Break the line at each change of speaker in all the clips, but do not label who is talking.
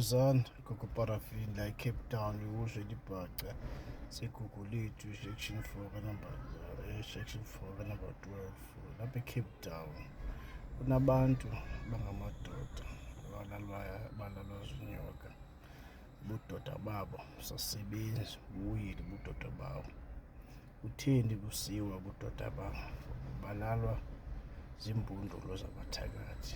Bazan, Coco Paraffin, like Cape Town, we wash the butter. Say Coco Late, section 4, number, uh, section 4, number 12. Lapha eCape Town kunabantu bangamadoda abalalwayo abalalwa zinyoka ubudoda babo sasebenzi buyile ubudoda babo kutheni kusiwa ubudoda babo balalwa zimbundulo zabathakathi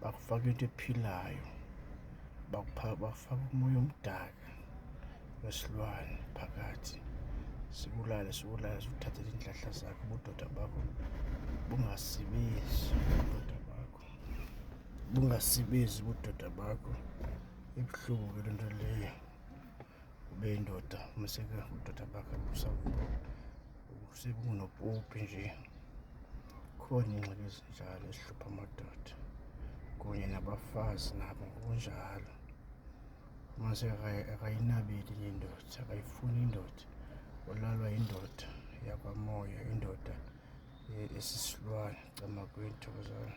bakufaka into ephilayo bakufaka umoya omdaka wesilwane phakathi sibulale sibulale sithathe izinhlahla zakho ubudoda bakho bungasebenzi ubudoda bakho bungasebenzi ubudoda bakho ibuhlungu ke lento leyo ube indoda uma seke udoda bakho usavuma Sekunopuphi nje khona ingxaki ezinjalo ezihlupha amadoda kunye nabafazi nabo ngokunjalo uma sekayinabile le ndoda akayifuni indoda ulalwa yindoda yakwamoya indoda esisilwane camakwethu kuzona